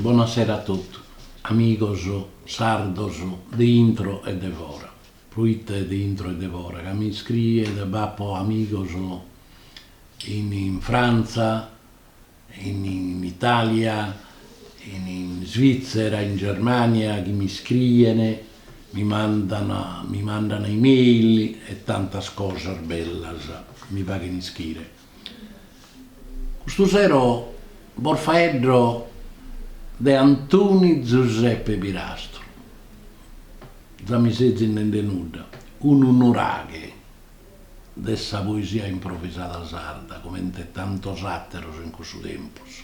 Bona sera a totu, amigos sardos de intro e de fora, pruite de intro e de fora, ca mi iscrien, b'apo amigos in Frantza, in Italia, in Svitzera, in Germania, chi mi scrien, mi mandan mi mandan email e tantas cosas bellas mi faghen ischire. Custu sero bos faeddo de Antoni Giuseppe Pirastru, già mi sezis nende nudda, unu nuraghe. de sa poesia improvisada sarda, comente tantos àteros in cussu tempus.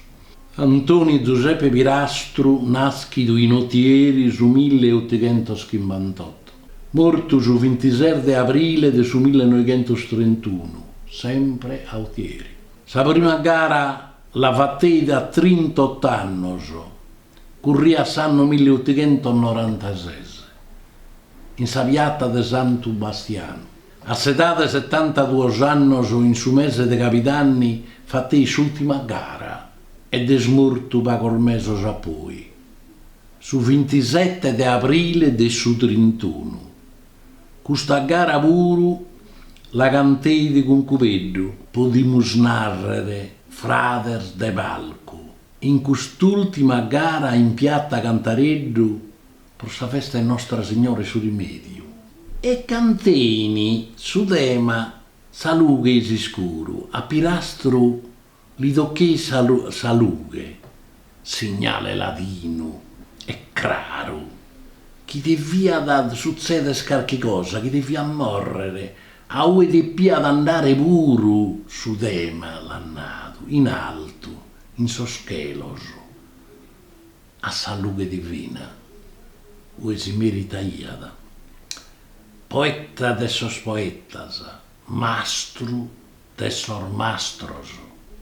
Antoni Giuseppe Pirastru, nàschidu in Otieri su mille e otighentos chimbantotto, mortu su vintisete de abrile de su mille e noighentos trentunu, sempre a Otieri. Sa prima gara la fateit a trintot'annos, Curriat s'annu mille otighentos norantases, in sa piata de Santu Bastianu, a s'edade 'e setantaduos annos, in su mese de cabidanni, fateit s'ultima gara ed est mortu pagos mesos a poi, su vintisete de abrile de su trintunu. Custa gara puru la canteit cun Cubeddu, podimus nàrrere, frades de palcu. In cust'ùltima gara in piatta Cantareddu pro sa festa 'e Nostra Signora 'e su Rimèdiu e cantein su tema Sa lughe e s'iscuru, a Pirastru li tocheit sa lughe, signale ladinu e craru chi deviat sutzeder carchi cosa, chi deviat mòrrer, a ue depiat andare puru su tema, l'at nadu in altu. In sos chelos, a sa lughe divina, ue si meritaiat, poeta de sos poetas, mastru de sos mastros,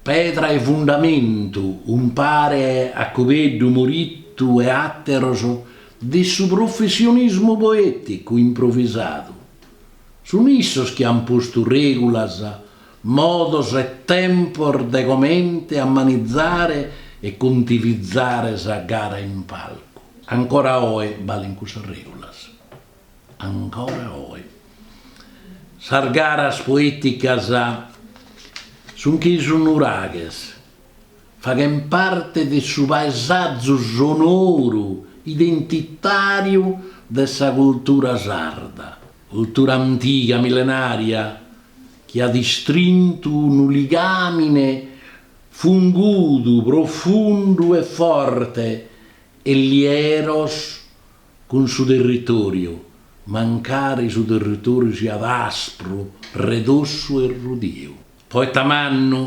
pedra 'e fundamentu umpare a Cubeddu, Morittu e àteros de su professionismu poèticu improvisadu, sun issos chi an postu règulas Modos e tempos de comente ammanizzare e contivizzare sa gara in palcu. Ancora oe balen cussas regulas. Ancora oe. Sas garas poeticas sun che sos nuraghes, faghen parte de su paesàgiu sonoru identitariu de sa cultura sarda, cultura antiga, millenaria, chi at istrintu unu ligàmine fungudu, profundu e forte e lieru cun su territòriu, mancari su territòriu siat aspru, redossu e rudiu. Poeta mannu,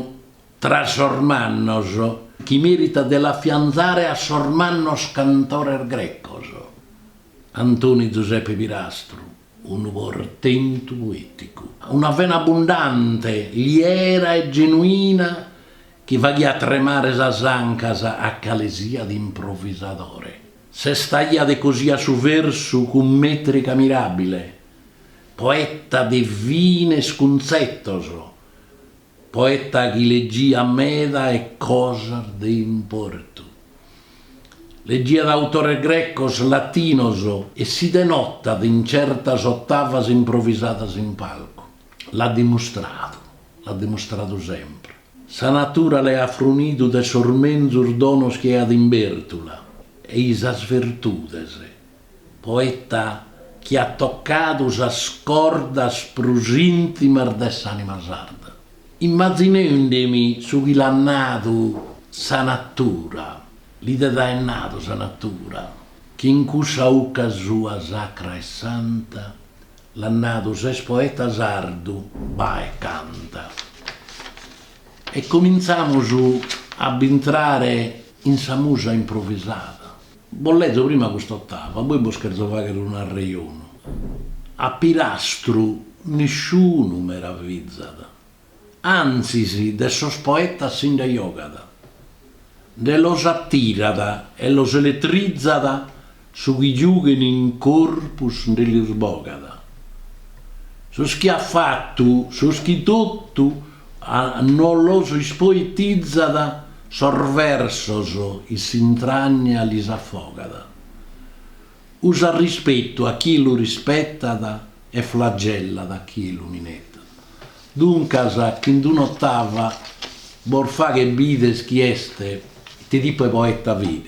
tra sos mannos, chi meritat de l'afiantzare a sos mannos cantores grecos, Antoni Zuseppe Pirastru. unu portentu poèticu, una vena abundante, liera e genuina chi faghiat tremare sas ancas a calesiat improvisadore. Sestaiat e cosiat su versu cun mètrica miràbile, poeta de fines cuntzetos, Poeta chi legiat meda e cosas de importu. Legiat autores grecos, latinos e si denotat in certas otavas improvisadas in palcu. L'at dimustradu, l'at dimustradu sempre. Sa natura l'at frunidu de sos menzus donos chi aiat in bértula e i sas virtudes. Poeta chi at tocadu sas cordas prus intimas de s'anima sarda. Immazinendi-mi su chi l'at nadu sa natura, li det aer nadu sa natura, chi in cussa 'ucca sua sacra e santa l'at nadu ses poeta sardu, bae e canta. E cominzamus a b'intrare in sa musa improvisada. Bos lezo prima cust'ottava, poi bos cherzo fagher un'arrejonu. A Pirastru nisciunu meravizat, anzis de sos poetas si nde jogat, nde los attirat e los elettrizat su chi giughen in corpus nde lis bogat. Sos chi at fattu, sos chi tottu no los ispoettizat Sos versos in s'intrànnia lis afogat. Usat rispetu a chie lu rispetat e flagellat a chie lu minetat. Duncas, chin d'un'otava bos faghet bider chie est, ite tipu 'e poeta fit.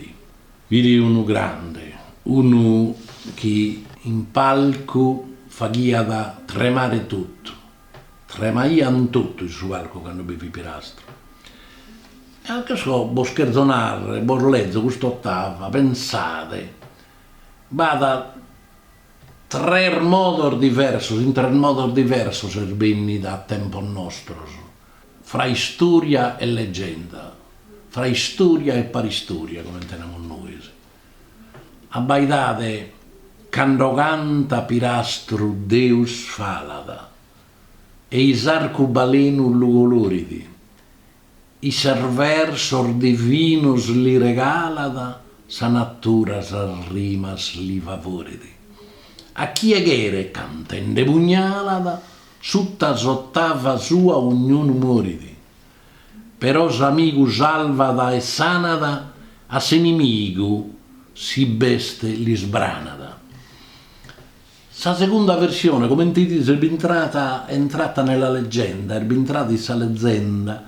Fit unu grande, unu chi in palcu faghiat tremare totu. Tremaiant totu in su palcu candu bi fit Pirastru. Anche so, bos cherzo narrer, bos lezo cust'ottava, pensade, b'at tres modos diversos, in tres modos diversos est bennida a tempos nostros, fra istoria e legenda, fra istoria e paristoria, comente namus nois. Abbaidade cando cantat Pirastru Deus falat e i s'arcubalenu lu colorit, isse versos divinos li regalat sa natura sas rimas li favorit a chie cheret cantende pugnalat sutta s'otava sua ognunu morit però s'amigu salvat e sanat, a s'inimigu si b'est l'isbranat. Sa segunda versione, comente bidides, est bintrada è entrata nella leggenda, est bintrada in sa lezenda,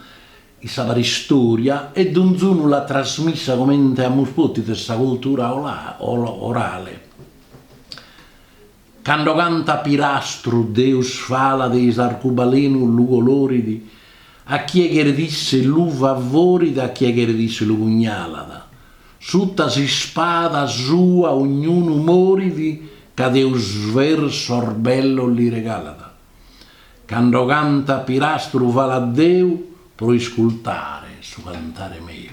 in sa paristoria e donzunu l'at trasmissa comente amus potidu in sa cultura orale. Cando cantat Pirastru Deus falat e i s'arcubalenu lu colorit a chie cheret isse lu favorit a chie cheret isse lu pugnalat suta s'ispada sua ognunu morit ca Deus versos bellos li regalat Cando cantat Pirastru falat Deu pro iscultare su cantare meu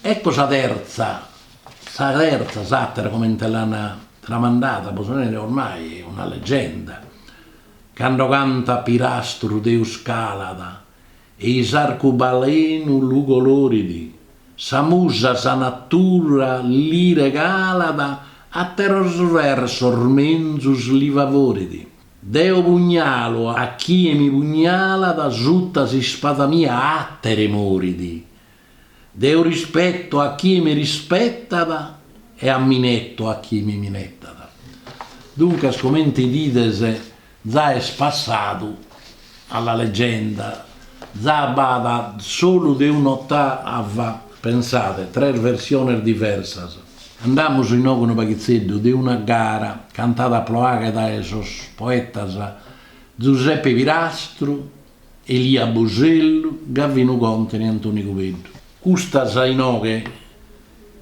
Ecco sa terza Sa terza, s'àtera comente l'ant tramandada, bos so nende ormai una legenda, cando cantat Pirastru Deus calat e i s'arcubalenu lu colorit, sa musa sa natura li regalat, àteros versos menzus li favorit, deo pugnalu a chie mi pugnalat, suta s'ispada mia àtere morit, Deo rispeto a chie mi rispetat e ammineto a chie mi minetat. Duncas, comente bidides, za est passadu alla leggenda. Za b'at solu de un'otava, pensade, tres versiones diversas. Andamus inoghe a unu paghitzeddu de una gara cantada a Ploaghe dae sos poetas Zuseppe Pirastru Elia Busellu, Gavinu Còntene, Antoni Cubeddu. Custas inoghe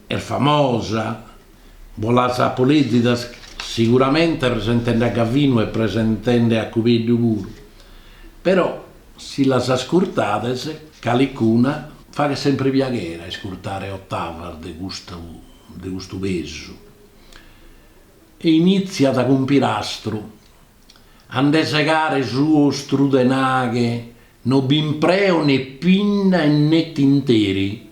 est famosa, bos las apo lèzidas siguramente presentende a Gavinu e presentende a Cubeddu puru, però si las ascurtades calicuna faghet sempre piaghere a iscurtare ottavas de custu de custu pesu e initziat cun Pirastru. A nde segare su ostru tenaghe no b'impreo ne pinna e ne tinteri,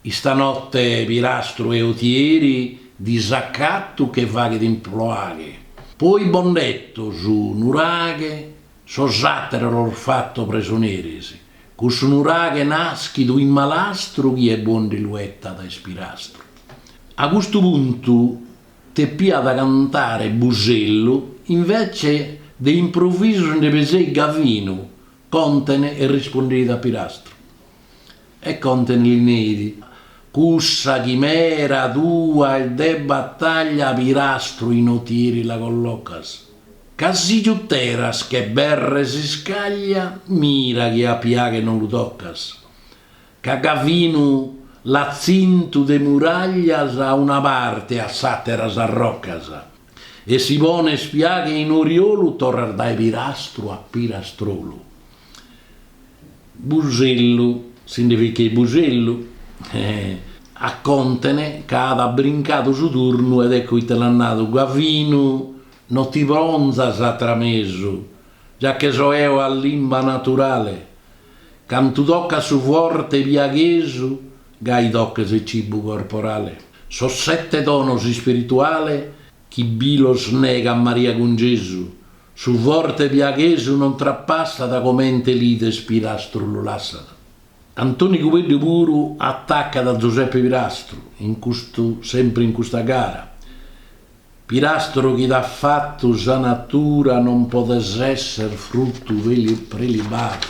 istanotte Pirastru 'e Otieri disacattu che faghet in Ploaghe, poi bo nd'etto su nuraghe sos atteres los fatto presoneris, cussu nuraghe naschidu in malastru chie bo ndi lu 'ettat est Pirastru. A custu puntu Depiat cantare Busellu, invece de improvisu nde peseit Gavinu Contene e rispondeit a Pirastru. E Contene li neit, Cussa chimera tua est de bataglia Pirastru in Otieri la collocas, ca si giuteras che berre s'iscaglia, mira chi a Piaghe non lu tocas. ca Gavinu l'at tzintu de muraglias a una parte e a s'àtera sas rocas, e si pones Piaghe in oriolu torras dae pirastru a pirastrolu. Busellu, si nde ficheit Busellu, a Contene ca at brincadu su turnu ed ecco ite l'at nadu, Gavinu, no ti ponzas a tramesu, già che so eo a limba naturale, Cantu tocat su forte piaghesu, gai tocat su cibu corporale, sos sette donos ispirituale chi bi los negat Maria cun Gesu, su forte piaghesu non trapassat comente l'ides Pirastru lu lassat. Antoni Cubeddu puru atacat a Zuseppe Pirastru in custu sempre in custa gara, Pirastru chi t'at fatu sa natura non podes esser fruttu prelibadu.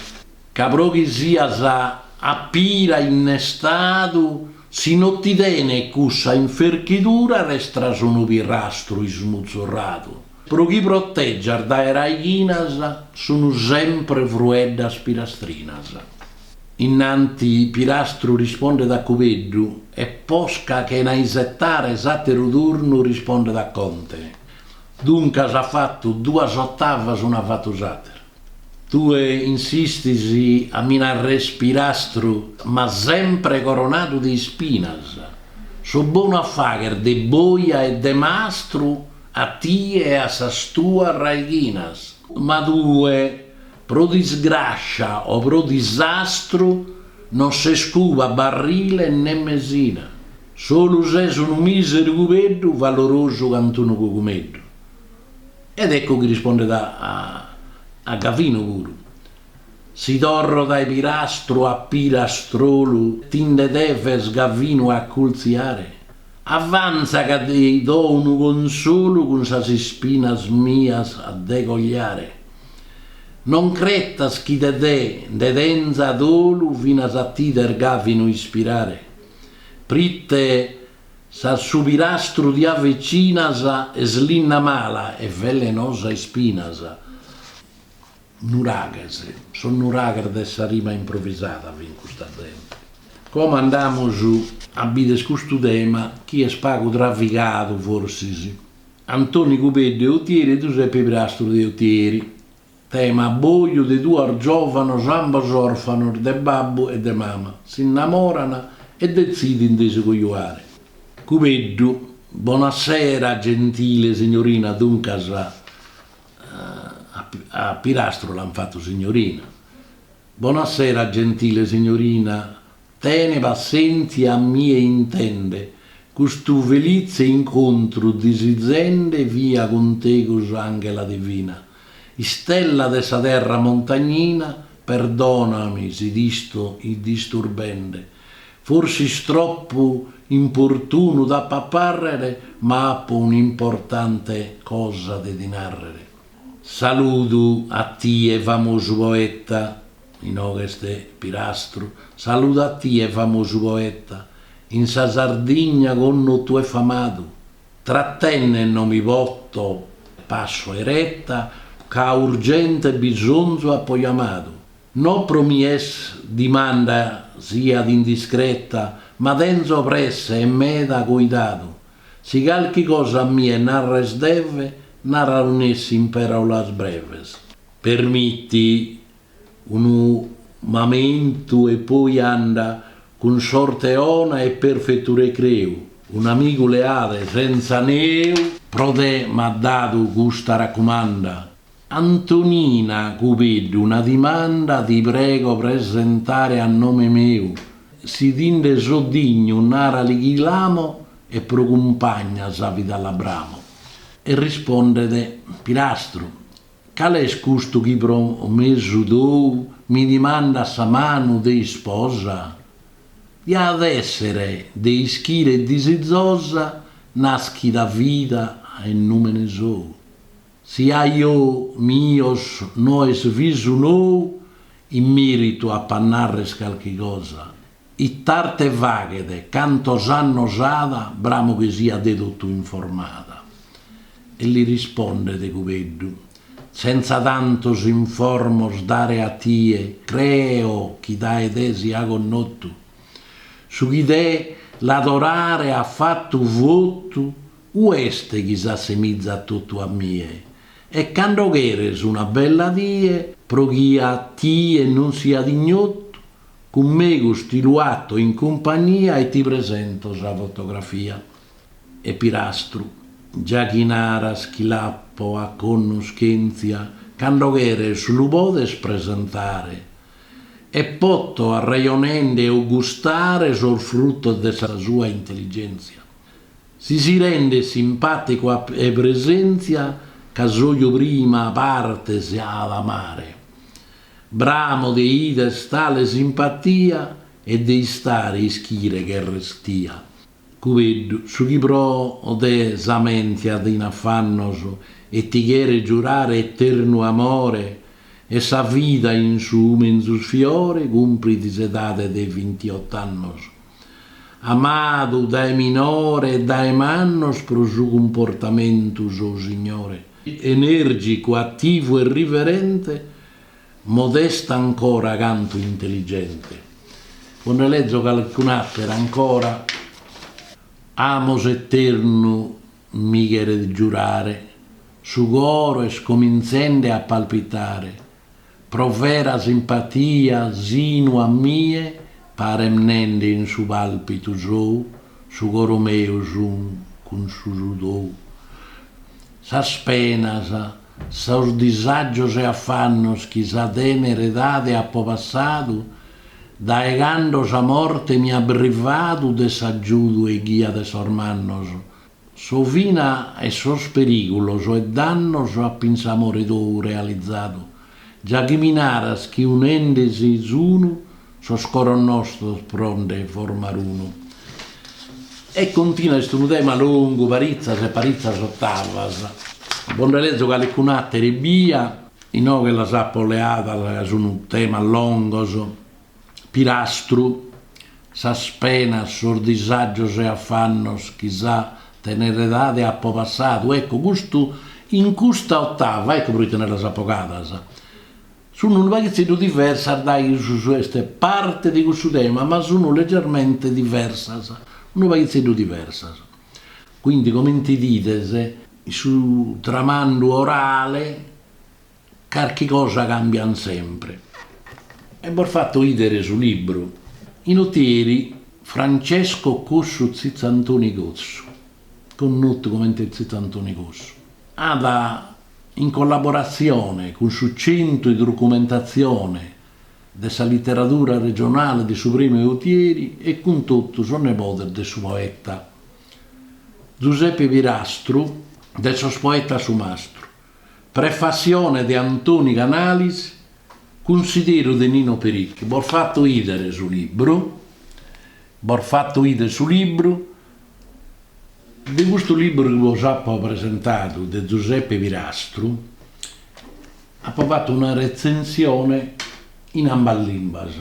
Ca pro chi sias a pira innestadu si no ti tenet cussa inferchidura restas unu pirastru ismutzurradu. Pro chi protegias dae raighinas sun sempre frueddas pirastrinas. Innanti Pirastru rispondet a Cubeddu e posca chena isetare s'àteru turnu rispondet a Conte, Duncas at fatu duas otavas un'at fatu s'àteru. Tue insistis a mi narrer Pirastru ma sempre coronadu de ispinas, so bonu a fagher de boja e de mastru a tie e a sas tuas raighinas, ma tue Pro disgràscia o pro disastru non ses cuba barrile ne mesina, solu ses unu mìseru cubeddu valorosu cantu unu cogumeddu. Ed ecco chi rispondet a Gavinu puru, Si torro dae pirastru a pirastrolu ti nde deves Gavinu accultziare? Avanza ca ti do unu consolu cun sas ispinas mias de cogliare. Non cretas chi de te, nde tenza dolu finas a t'ider Gavinu ispirare, prite s'a su pirastru ti avecinas est linna mala e velenosa ispinas. Nuraghes, sos nuraghes de sa rima improvisada fin custa zente. Como andamus a bider custu tema chi est pagu travigadu forsis. Antoni Cubeddu de Otieri e Zuseppe Pirastru de Otieri. Tema, Abboju de duos giòvanos ambos òrfanos de babbu e de mama, s'innamoran e detzidin de si cojuare. Cubeddu, Bona sera, gentile signorina, duncas, a Pirastru l'an fatu signorina, Bona sera, gentile signorina, Tene passèntzia a mie intende. Custu felitze incontru disizende fia cun tegus Anghela divina, istella de sa terra montagnina Perdonami si t'isto disturbende Forsis troppu importunu t'apo a parrere Ma apo un'importante cosa de ti narrere Saludu a tie famosu poeta. Inoghe est Pirastru, saludu a tie famosu poeta, in sa Sardigna connotu e famadu, trattenne no mi potto e passo 'eretta ca a urgente bisonzu appo jamadu, no pro mi est dimanda siat indiscretta ma tenzo presse e meda coidadu, si calchi cosa a mie narres deve, nara nessi in peraulas breves. Permitti Unu mamentu e poi anda cun sorte 'ona e perfetu recreu, un'amigu leale senza neu. Pro te m'at dadu custa raccumanda. Antonina Cubeddu una dimanda ti prego presentare a nome meu, si ti nde so dignu narali chi l'amo e pro cumpagna sa vida la bramo. E rispondet Pirastru. Cale est custu chi pro mesu tou mi dimandat sa manu de isposa? Diat èssere de ischire e disizosa nàschida vida e nùmene sou. Si a ojos mios no est visu nou, in mèritu apo a nàrrere calchi cosa. It'arte faghet, cantos annos at, bramo chi siat de totu informada. E li rispondet Cubeddu, Senza tantos informos dare a tie, creo chi dae te sia connotu. Su chi de t'adorare at fatu votu, unu est chi s'assemizat totu a mie? E cando cheres una bella die, pro chi a tie non siat ignotu, Cun megus ti lu 'ato in cumpagnia e ti presento sa fotografia. E Pirastru, Già chi naras chi l'apo a connoschèntzia, cando cheres lu podes presentare. E poto arrajonende e gustare sos frutos de sa sua intelligèntzia. Si si rendet simpàticu 'e presèntzia ca s'oju prima parte si at a amare. Bramo de 'ider tale simpatia e de istare ischire cherrestia. Cubeddu, su chi pro te s'amentiat in afannos e ti cheret giurare eternu amore e sa vida in su menzus fiore cumprit s'edade de vintiot'annos. Amadu dae minore e dae mannos pro su cumportamentu sou signore, enèrgicu, ativu e riverente, modestu ancora cantu intelligente. Bos nde lezo calcun'àtera ancora, amor eternu mi cheret giurare, su coro est comintzende a palpitare, Pro vera simpatia sinu a mie paret nende in su palpitu sou su coro meu s'unat cun su tou sas penas sos disàgios e afannos chi sa tenera edade apo passadu dae cando sa morte mi at brivadu de s'agiudu e ghia de sos mannos Sa fine 'e sos perìgulos e dannos apo in s'amore tou realizadu, già chi mi naras chi unende si sunu sos coros nostros pro nde formare unu. E continua, est unu tema longu, paritzas e paritzas ottavas, bos nde lezo calcun'àtera ebbia, inoghe las apo leadas ca sunt temas longos. Pirastru, Sas penas, sos disàgios e afannos chi sa tener'edade apo passadu, ecco, custu in custa otava, ecco pro ite nde las apo 'ogadas, sunt unu paghitzeddu diversas dae su su est parte de cussu tema, ma sunt leggermente diversas, unu paghitzeddu diversas. Quindi comente 'idides, in su tramandu orale, Carchi cosa cambian sempre. E bos fatto 'idere su libru. in Otieri, Francesco Cossu Zizzantoni Cossu, connotu comente Zizzantoni Cossu, at, in collaboratzione cun su Centru de Documentatzione de sa Literadura Regionale de su Prèmiu Otieri e cun totu sos nebodes de su poeta Zuseppe Pirastru de Sos Poetas Su Mastru, Prefassione de Antoni Canalis cunsideru de Nino Pericu. Bos fatto 'idere su libru. Bos fatto 'idere su libru. De custu libru chi bos apo presentadu de Zuseppe Pirastru apo fatu una retzensione in ambas limbas.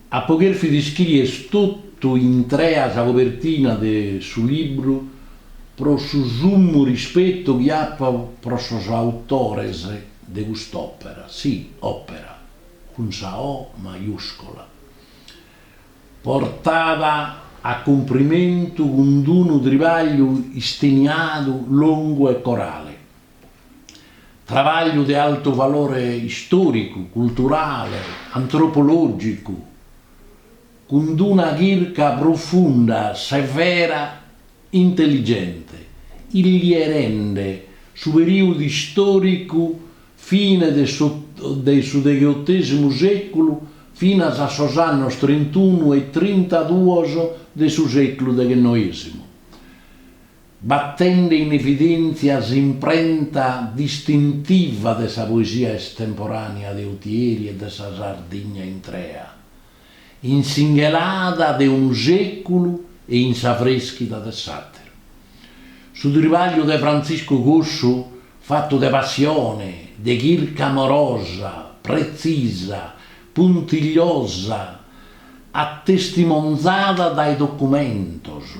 Apo cherfidu iscrìere totu intrea sa cobertina de su libru pro su summu rispetu chi apo pro sos autores de cust'òpera, si, òpera, cun sa O maiuscola, portada a cumprimentu cun d'unu tribagliu isteniadu, longu e corale. Trabagliu de altu valore istòricu, culturale, antropològicu, cun d-una chirca profunda, severa, intelligente, illierende su perìudu istòricu fine de su degheotesimu sèculu finas a sos annos trintunu e trintaduos de su sèculu deghennoesimu. Batende in evidèntzia s'imprenta distintiva de sa poesia estemporànea de Otieri e de sa Sardigna intrea, in s'inghelada de unu sèculu e in s'avrèschida de s'àteru. Su tribagliu de Frantziscu Cossu, fatu de passione, de chirca amorosa, pretzisa, puntigliosa, attestimonzada dae documentos,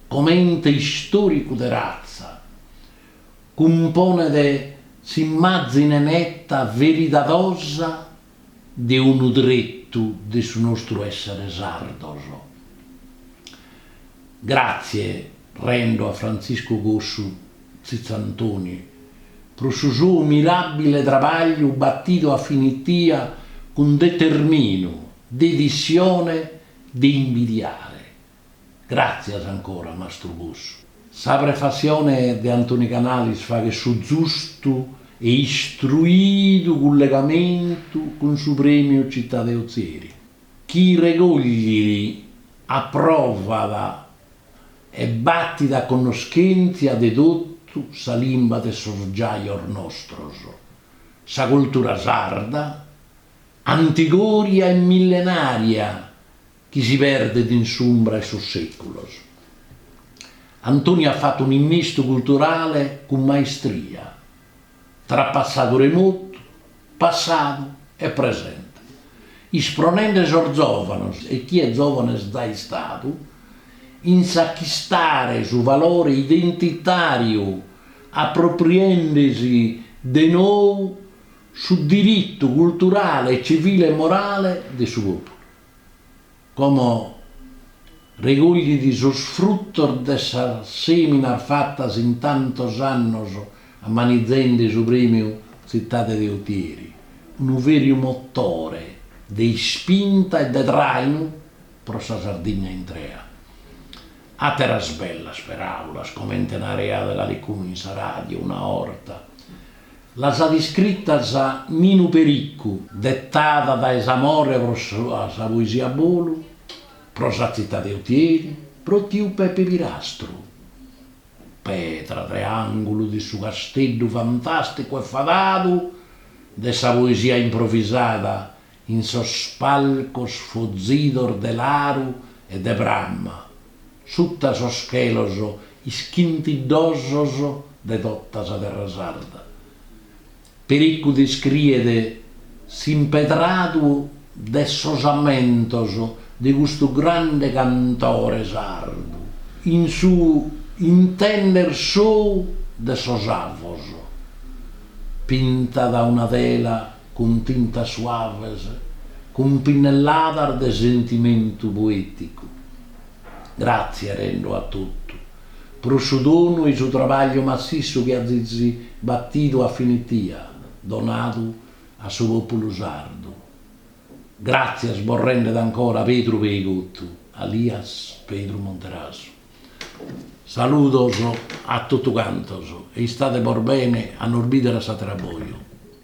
comente istòricu de ratza, cumponet s'immàzine neta, veridadosa de unu tretu de su nostru èssere sardos. Gràtzie rendo a Frantziscu Cossu Tzitzantoni pro su sou miràbile trabagliu batidu a finitia cun determinu e dedissione de imbidiare Gràtzias ancora, mastru Cossu. Sa prefassione de Antoni Canalis faghet su zustu e istruidu cullegamentu cun su Prèmiu Città de Ozieri, chi regòglit, apròvat e batit a connoschèntzia de totu sa limba de sos giajos nostros, sa cultura sarda, antigòria e millenària chi si perdet in s'umbra 'e sos sèculos. Antoni at fatu un'innistu culturale cun maistria, tra passadu remotu, passadu e presente, ispronende sos zòvanos e chie zòvane est giai istadu, in s'achistare su valore identitàriu apropriende-si de nou su diritu culturale, civile e morale de su pòpulu. Como regoglit sos fruttos de sas seminas fattas in tantos annos ammanizendi su premiu Zittade de Otieri, unu veriu motore de ispinta e de trainu pro sa Sardigna intrea. Atteras bellas peraulas comente naraiat calicunu in sa radio una orta. Las at iscritas Ninu Pericu. Detadas dae s'amore pro sa poesia a bolu, pro sa tzitade 'e Otieri, pro tiu Pepe Pirastru, pedra de àngulu de su casteddu fantàsticu e fadadu de sa poesia improvisada in sos palcos fozidos de laru e de pramma, sutta sos chelos ischintiddosos de totta sa terra sarda, Pericu descriet s'impedradu de sos ammentos de custu grande cantore sardu in su intender sou de sos avos, pintat una tela cun tintas suaves, cun pinnelladas de sentimentu poèticu. Gràtzia rendo a totu pro su donu 'e su trabagliu massissu chi azis batidu a finitia donadu a su pòpulu sardu. Gràtzias bos rendet ancora Pedru Peigottu, alias Pedru Monterasu. Saludos a totu cantos e istade bos bene a nos bìdere a s'àtera boja.